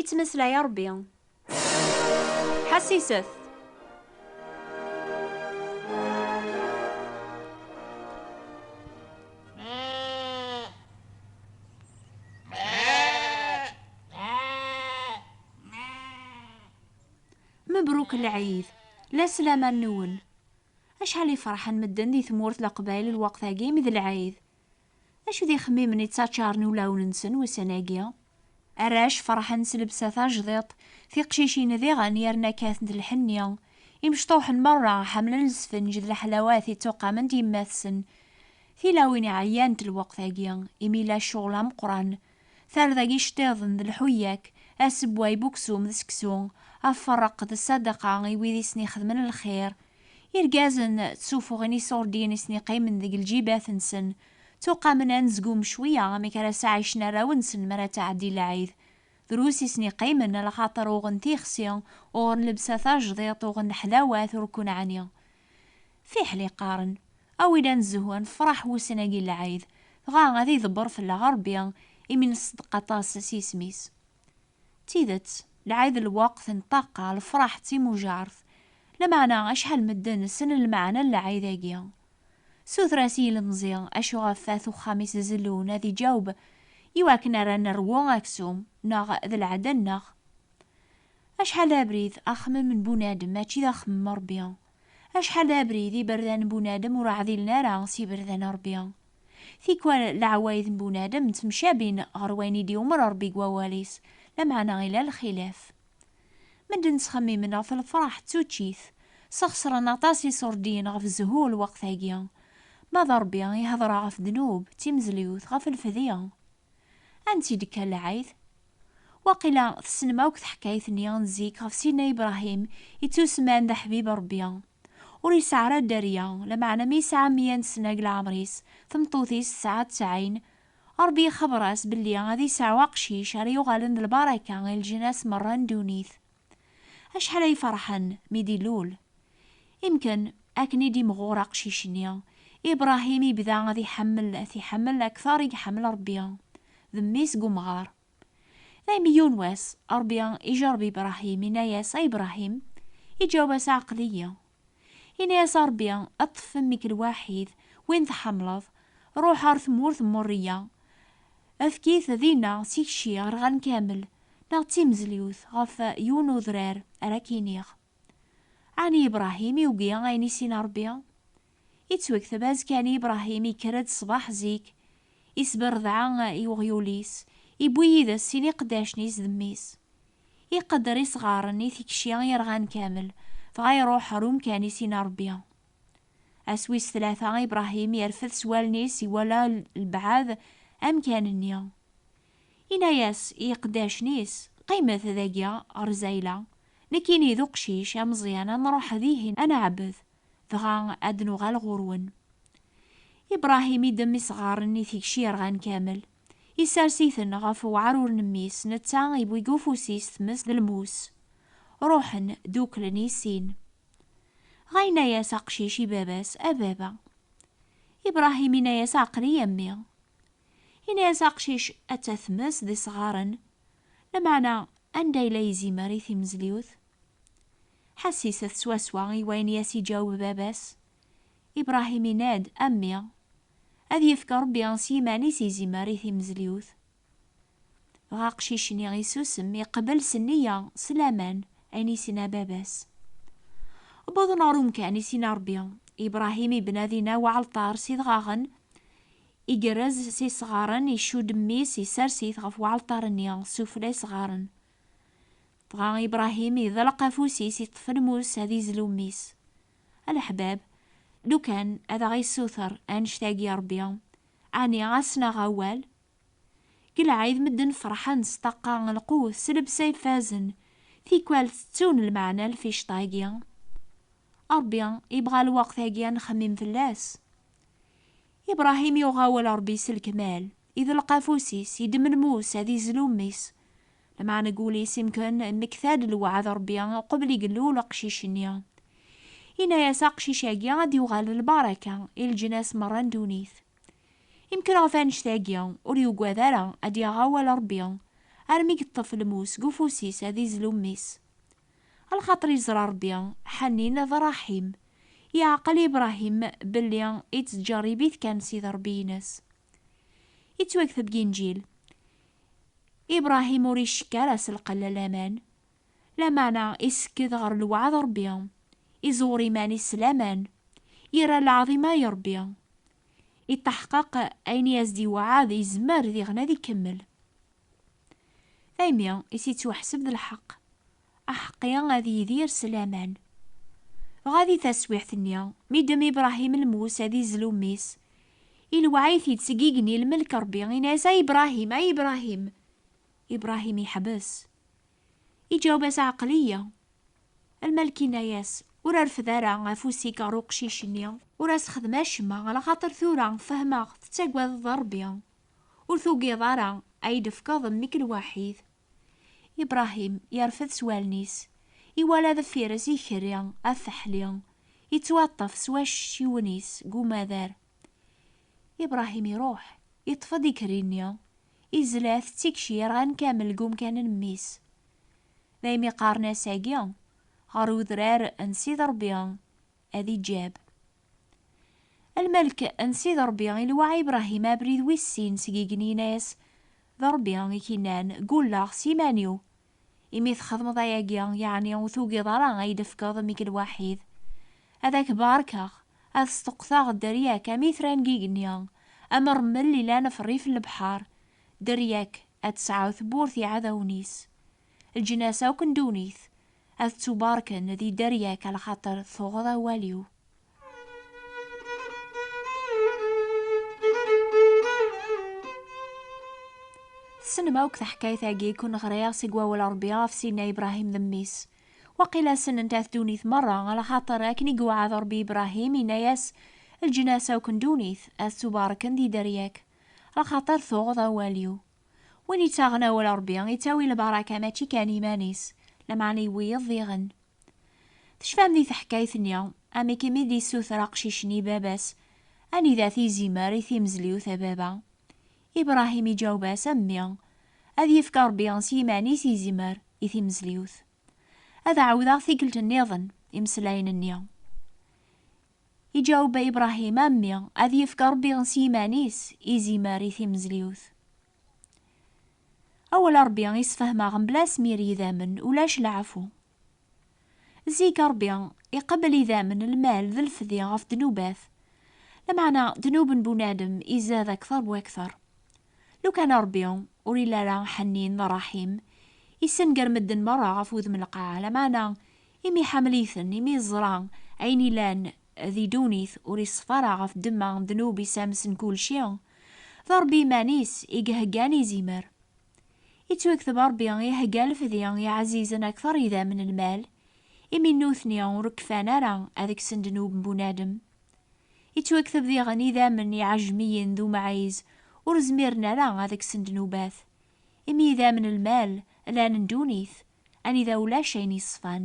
Ittmeslay a Ṛebbi. Ḥassiset. Mebruk lɛid, la sslam-a nwen. Acḥal i ferḥen medden di tmurt Leqbayel lweqt-agi mi d lɛid. Acu d ixemmimen i ttaččaren ulawen-nsen ussan-agi? Arrac ferḥen s lebsa tajdiṭ, tiqcicin diɣen yerna kkatent lḥenni. Imecṭuḥen merra ḥemmlen lesfenǧ d leḥlawat i ttuqamen-d yemmat-sen. Tilawin ɛyant lweqt-agi, imi yella ccɣel ameqqran. Tarda n yiceṭṭiḍen d lḥuyyak, asewway n uksum d seksu, aferreq d ssadaqa i wid i sen-ixedmen lxir. Irgazen d tufuɣin iṣurdin i sen-iqqimen deg lǧibat-nsen, ttuqamen anezgum cwiya amek ara sɛaycen arraw-nsen mi ara ttɛeddi lɛid. Drus i sen-iqqimen, lxaṭer uɣen tixsi, uɣen lebsa tajdiṭ, uɣen ḥlawat ur kun ɛni. Fiḥel i qqaren, a win ad nezhu, ad nefraḥ wussan-agi n lɛid, dɣa ad iḍebber fell-aɣ Rebbi imi neṣdeq aṭas s yisem-is. D tidet, lɛid lweqt n ṭṭaqqa, lefraḥ d timujaṛt, lameɛna acḥal n medden ssnen lmeɛna n lɛid-agi? Suter-as i yilemẓi acu ɣef wat uxxam-is zellun ad iǧaweb i wakken ara nerwu aksum neɣ d lɛada-nneɣ. Acḥal d abrid, axemmem n bunadem mačči d axemmem n Ṛebbi. Acḥal d abrid, iberdan n bunadem ur ɛdilen ara s yiberdan n Ṛebbi. Tikwal leɛwayed n bunadem ttemcabin ɣer wayen i d-iwmer Ṛebbi deg wawal-is, lameɛna ila lxilaf. Medden ttxemmimen ɣef lefṛaḥ d tuččit, sxeṣren aṭas iṣurdiyen ɣef zzhu lweqt-agi. Ma d Ṛebbi ihedṛa ɣef ddnub, d timezliwt, ɣef lfedya. Ansi d-ikka lɛid? Waqila tessnem akk taḥkayt-nni n zik ɣef Sidna Ibrahim ittusemman d Aḥbib Ṛebbi. Ur yesɛi ara dderya, lameɛna mi yesɛa meyya n ssna deg leɛmer-is, tmeṭṭut-is tesɛa ttɛin, Ṛebbi ixebbeṛ-as belli ad yesɛu aqcic ara yuɣalen d lbaraka i leǧnas meṛṛa n ddunit. Acḥal ay ferḥen mi d-ilul! Imken, akken i d-imɣur aqcic-nni, Ibrahim yebda ad iḥemmel, ad t-iḥemmel akteṛ i iḥemmel Ṛebbi d mmi-s deg umɣaṛ. Daymi yiwen wass, Ṛebbi ijeṛṛeb Ibrahim, yenna-yas, A Ibrahim! Iǧaweb-as, Aql-iyi. Ini-as a Ṛebbi ad ṭṭfen nekk lwaḥid, win tḥamleḍ, ṛuḥ ɣer tmurt n Muriya, efk-it dinna tikci ɣer ɣan kamel, neɣ d timezliwt ɣef yiwen udrar ara k-iniɣ. Ɛni Ibṛahim yugi ayen i s-inna Ṛebbi? Ittwekteb azekka-nni Ibṛahim ikker-d ṣṣbeḥ zik, isberdeɛ i uɣyul-is, iwwi yid-es sin iqeddacen-is d mmi-s. Iqedder isɣaren i tikci irɣan kamel, dɣa iruḥ ɣer umkan-is i Ṛebbi. Ass wis tlata, Ibṛahim irfed s wallen-is, iwala lbeɛd amkan-nni. Inna-yas i iqeddacen-is, Qqimet dagi ɣer zayla, nekkini d uqcic ameẓyan ad nṛuḥ dihin ad neɛbed, dɣa ad d-nuɣal ɣur-wen. Ibṛahim iddem isɣaren i tikci irɣan kamel, Isers-iten ɣef weɛrur n mmi-s, netta yewwi deg ufus-is tmes d lmus. Ruḥen, duklen i sin. Dɣa yenna-yas aqcic i baba-s, A baba! Ibrahim yenna-yas Aql-i a mmi. Yenna-yas aqcic Atta tmes d isɣaren, lameɛna anda yella yizimer i timezliwt? Ḥassisset swaswa i wayen i as-iǧaweb baba-s. Ibrahim inna-d, A mmi! Ad yefk Rebbi s yiman-is izimer i timezliwt. Dɣa aqcic-nni isusem, iqbel s nniya, s laman, ayen i sinna baba-s. Wwḍen ɣer umkan i sinna Rebbi, Ibrahim ibna dinna weɛalṭar s idɣaɣen, igerrez s isɣaren, icudd mmi-s, isers-it ɣef weɛalṭar-nni, sufella isɣaren. Dɣa Ibrahim iḍelq afus-is iṭṭef lmus ad izlu mmi-s. A leḥbab, lukan ad aɣ-issuter annect-agi Rebbi, ɛni ad s-naɣ awal? Deg lɛid medden ferḥen s ṭṭaqqa n lqut, s lebsa ifazen, tikwal tettun lmeɛna n lficṭa-agi. Rebbi ibɣa lweqt-agi ad nxemmim fell-as. Ibrahim yuɣ awal Rebbi s lekmal, iḍelq afus-is, idem lmus ad izlu mmi-s, Lameɛna deg wul-is imken mmekta-d lweɛd n Rebbi uqbel i yellul uqcic-nni. Yenna-as aqcic-agi ad d-yuɣal d lbaraka i leǧnas merra n ddunit. Imken ɣef annect-agi ur yugad ara ad d-yaɣ awal n Rebbi armi yeṭṭef lmus seg ufus-is ad izlu mmi-s. A lxaṭer yeẓra Rebbi ḥanin d ṛṛaḥim, yeɛqel i Bṛahim belli yettǧerrib-it kan Sidi Ṛebbi-ines. Yettwakteb deg Inǧil. Ibrahim ur icekk ara s lqella n laman, lameɛna isekked ɣer lweɛd n Rebbi, iẓewwer iman-is s laman, yerra lɛaḍima i Rebbi. Iṭṭaḥqaq ayen i as-d-iweɛɛed yezmer diɣen ad ikemmel. Taymi is-ittwaḥseb d lḥeqq. Aḥeqqi ad yidir s laman. Dɣa di taswiɛt-nni, mi ddem Ibrahim lmus ad izlu mmi-s, ilewɛɛ-it-id seg igenni lmelk Rebbi, inna-yas, Ay Ibrahim! Ay Ibrahim! Ibrahim yeḥbes. Iǧaweb-as, Ɛqel-iyi! Lmelk inna-yas, Ur rfed ara afus-ik ɣer uqcic-nni. Ur as-xdem acemma, ala xaṭer tura fehmeɣ tettagadeḍ Rebbi, ur tugiḍ ara a yi-d-tefkeḍ mmi-k lwaḥid. Ibrahim yerfed s wallen-is, iwala deffir-s ikerri afeḥli yettwaṭṭef s wacciwen-is deg umadar. Ibrahim iruḥ, iṭṭef-d ikerri-nni, izla-t d tikci yerɣan kamel deg umkan n mmi-s. Daymi qqaren ass-agi, ɣer udrar n Sidi Rebbi, ad iǧab. A lmalek n Sidi Ṛebbi iluɛa Ibrahim abrid wis sin seg igenni yenna-yas, D Ṛebbi i k-innan, Ggulleɣ s yiman-iw. Imi txedmeḍ ayagi, yeɛni ur tugiḍ ara a yi-d-tefkeḍ mmi-k lwaḥid. Ad ak-barkeɣ, ad sṭuqqteɣ dderya-k am itran n yigenni, am ṛṛmel ilan ṛṛif n lebḥeṛ, dderya-k ad tesɛu tewwurt i yiɛdawen-is. leǧnas akk n ddunit ad ttubarken di dderya-k a lxaṭer tuɣeḍ awal-iw. Tessnem akk taḥkayt-agi i kun-ɣriɣ seg wawal Ṛebbi ɣef Sidna Ibrahim d mmi-s. Waqila sennent-at ddunit merra, a lxaṭer akken i iweɛɛed Ṛebbi Ibrahim, inna-yas, Leǧnas akk n ddunit ad ttubarken di dderya-k, a lxaṭer tuɣeḍ awal-iw. Win ittaɣen awal Ṛebbi, ittawi lbaraka mačči kan iman-is, lameɛna i wiyeḍ diɣen. Tecfam di teḥkayt-nni, amek imi d-issuter aqcic-nni baba-s, anida t-izimer i timezliwt a baba? Ibrahim iǧaweb-as, A mmi, ad yefk Ṛebbi s yiman-is izimer i timezliwt. Ad ɛawdeɣ tikkelt-nniḍen imeslayen-nni. Iǧaweb Ibrahim, A mmi, ad yefk Rebbi s yiman-is izimer i timezliwt. Awal Rebbi i sfehmeɣ mebla asmir yidammen ulac leɛfu. Zik Rebbi iqebbel idammen, lmal d lfdi ɣef ddnubat. Lameɛna ddnub n bunadem izad akter wakter. Lukan Ṛebbi ur yelli ara ḥennin, ṛṛaḥim, yessenger medden meṛṛa ɣef wudem n lqaɛa, lameɛna imi iḥamel-iten, imi yeẓra ayen yellan di ddunit, ur iṣeffa ara ɣef ddemma n ddnub isams n kulci. D Ṛebbi iman-is i iheggan izimer. Yettwakteb Ṛebbi ihegga lefdi i iɛzizen akteṛ idam n lmal, imi nutni ur kfan ara ad ksen ddnub n bunadem. Yettwakteb diɣen idammen n yiɛejmiyen d umɛiz ur zmiren ara ad kksen ddnubat, imi idammen n lmal llan n ddunit anida ulac ayen yeṣfan.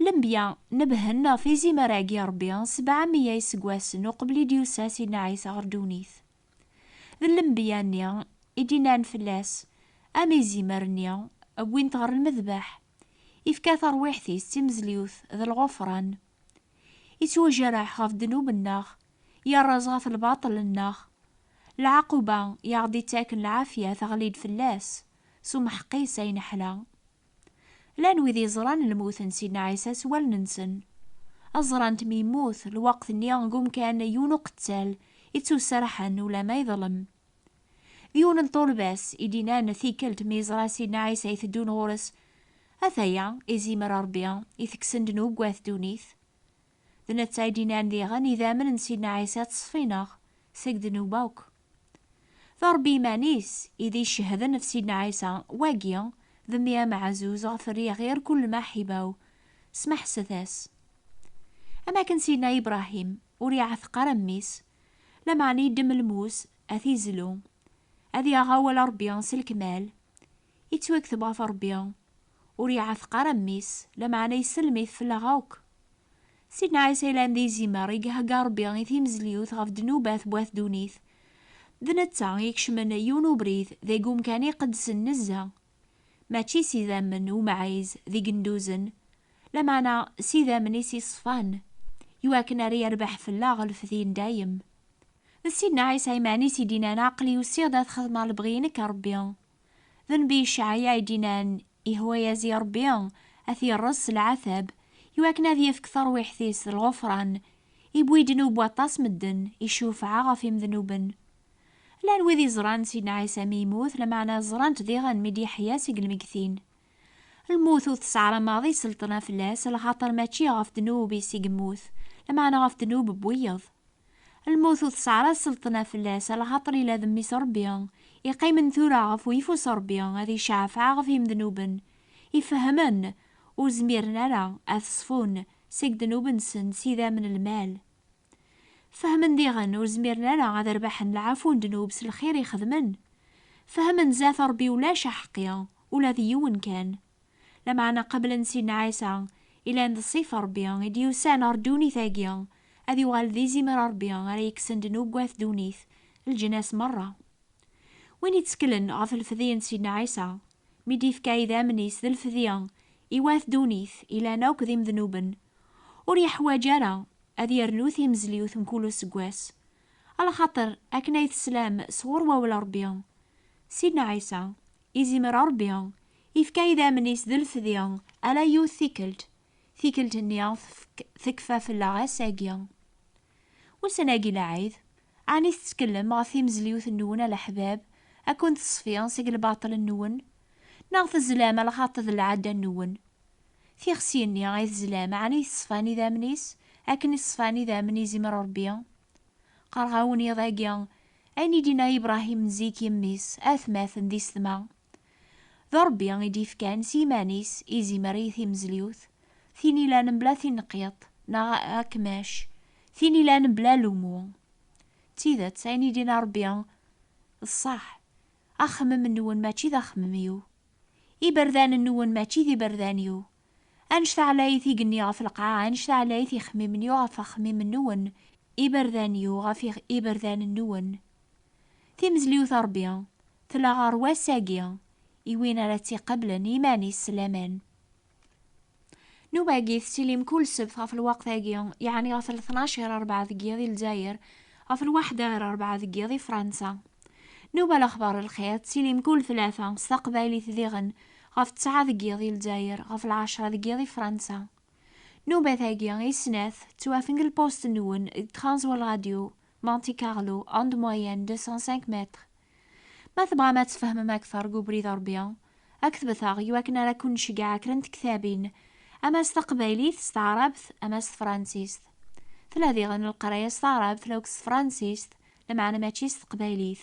Lembya nebhen ɣef izimer-agi n Rebbi sebɛa meyya iseggasen uqbel i d-yusa Sidna Ɛisa ɣer ddunit. D lembya-nni i d-innan fell-as am izimer-nni wwin-t ɣer lmedbeḥ, yefka tarwiḥt-is d timezliwt d lɣufran. Ittwajerreḥ ɣef ddnub-nneɣ, yerreẓ ɣef lbaṭel-nneɣ. Lɛaquba i aɣ-d-ittaken lɛafya teɣli-d fell-as, s umeḥq-is ay neḥla. Llan wid yeẓran lmut n Sidna Ɛisa s wallen-nsen. Ad ẓrant mi yemmut, lweqt-nni deg umkan yiwen uqettal i ttuserrḥen ulamma yeḍlem. D yiwen n ṭṭulba-s i d-inan tikkelt mi yeẓra Sidna Ɛisa iteddun ɣur-s, Ataya, izimer Ṛebbi i tekksen ddnubat ddunit. D netta i d-innan diɣen idammen n Sidna Ɛisa ţṣfinaɣ seg ddnub akk. D Ṛebbi iman-is i d icehden ɣef Sidna Ɛisa, wagi d mmi ameɛzuz ɣef riɣ ɣir kull lmaḥiba-w, smeḥset-as. Am akken Sidna Ibṛahim ur iɛteq ara mmi-s, lameɛna iddem lmus a t-izlu, ad yaɣ awal Ṛebbi s lekmal, Yettwakteb ɣef Rebbi, ur iɛateq ara mmi-s, lameɛna yesselm-it fell-aɣ akk. Sidna Ɛisa yellan d izimer i ihegga Rebbi i timezliwt ɣef ddnubat n wat ddunit, d netta i ikecmen yiwen ubrid deg umkan iqedsen nezzeh, mačči s idammen umɛiz d igenduzen, lameɛna s idammen-is iṣfan, iwakken ara yerbeḥ fell-aɣ lfed indayem. D Sidna Ɛisa imeɛnis i d-inan, Aql-i usiɣ-d ad xedmeɣ lebɣi-inek a Ṛebbi. D nnbi Icɛaya i d-inan, Yahwa yazi Ṛebbi, a t-yeṛṛez s lɛatab, iwakken ad yefk taṛwiḥt-is d lɣufṛan, iwwi ddnub waṭas medden, icufeɛ ɣef imednuben. Llan wid iẓran Sidna Ɛisa mi yemmut, lameɛna ẓran-t diɣen mi d-yeḥya seg lmeggtin. Lmut ur tesɛra maḍi selṭna fell-as, lxaṭer mačči ɣef ddnub-is i yemmut, lameɛna ɣef ddnub n wiyeḍ. Lmut ur tesɛra selṭna fell-as, lxaṭer ila d Mmi-s Ṛebbi, iqqimen tura ɣef uyeffus Ṛebbi, ad iceɛfeɛ ɣef yimednuben, ifehhmen, ur zmiren ara ad t-ṣfun seg ddnub-nsen s idammen n lmal. Fehmen diɣen ur zmiren ara ad rbaḥen lɛafu n ddnub s lxir i xedmen. Fehmen zdat Ṛebbi ulac aḥeqqi, ula d yiwen kan. Lameɛna qeblen sin Ɛisa, ilan d ṣṣifa Ṛebbi, i d-yusan ɣer ddunit-agi, ad yuɣal d izimer n Ṛebbi ara yekksen ddnub n wat ddunit, leǧnas meṛṛa. Win itteklen ɣef lfedye n Sidna Ɛisa, mi d-ifka idammen-is d lfedye i wat ddunit, ilan akk d imednuben, Ur yeḥwaǧ ara ad yernu timezliwt mkul useggas, alaxaṭer akken ay teslam s ɣur wawal Rebbi, Sidna Ɛisa, izimer Rebbi ifka idammen-is d lfdi ala yiwet tikkelt, tikkelt-nni tekfa fell-aɣ ass-agi. Ussan-agi lɛid, ɛni tettkellem ɣef timezliwt-nwen a leḥbab, a ken-teṣfi seg lbaṭel-nwen? Neɣ tezlam a lxaṭ d lɛadda-nwen? Tixsi-nni ay tezlam ɛni yeṣfan idammen-is akken i ṣfan idammen izimer Rebbi? Qqareɣ-awen iḍ-agi ayen i d-inna Ibrahim n zik i mmi-s, atmaten d isetma. D Ṛebbi i d-yefkan s yiman-is izimer i timezliwt, tin ilan mebla tineqqiṭ neɣ akmac, tin ilan mebla lemu. D tidet, ayen i d-yenna Ṛebbi d ṣṣeḥ, Axemmem-nwen mačči d axemmem-iw, iberdan-nwen mačči d iberdan-iw, Anect-a ɛlayit igenni ɣef lqaɛa, anect-a ɛlayit ixemmimen-iw ɣef axemmim-nwen, iberdan-iw ɣef iberdan-nwen. Timezliwt a Rebbi, tella ɣer wass-agi, i win ara tt-iqablen i yiman-is s laman. Nnuba-agi tettili mkul ssebt ɣef lweqt-agi, yeɛni ɣef lṭnac ɣir rebɛa deg yiḍ i Lezzayer, ɣef lwaḥda ɣir rebɛa deg yiḍ i Fransa. Nnuba Lexbar n Lxir tettili mkul tlata, s taqbaylit diɣen, ɣef ttɛa deg yiḍ i Lezzayer, ɣef lɛecra deg yiḍ i Fransa. Nnubat-agi i snat ttwafen deg lpust n Wen deg Transworld Radio, Monte Carlo, onde moyenne 205 mètres. Ma tebɣam ad tfehmem akteṛ deg ubrid uṛbi, aktbet-aɣ iwakken ara ken-nceggeɛ kra n tektabin, ama s taqbaylit, s taɛṛabt, ama s tefṛansist. Tella diɣen leqraya s taɛṛabt laukk s tefṛansist, lameɛna mačči s teqbaylit.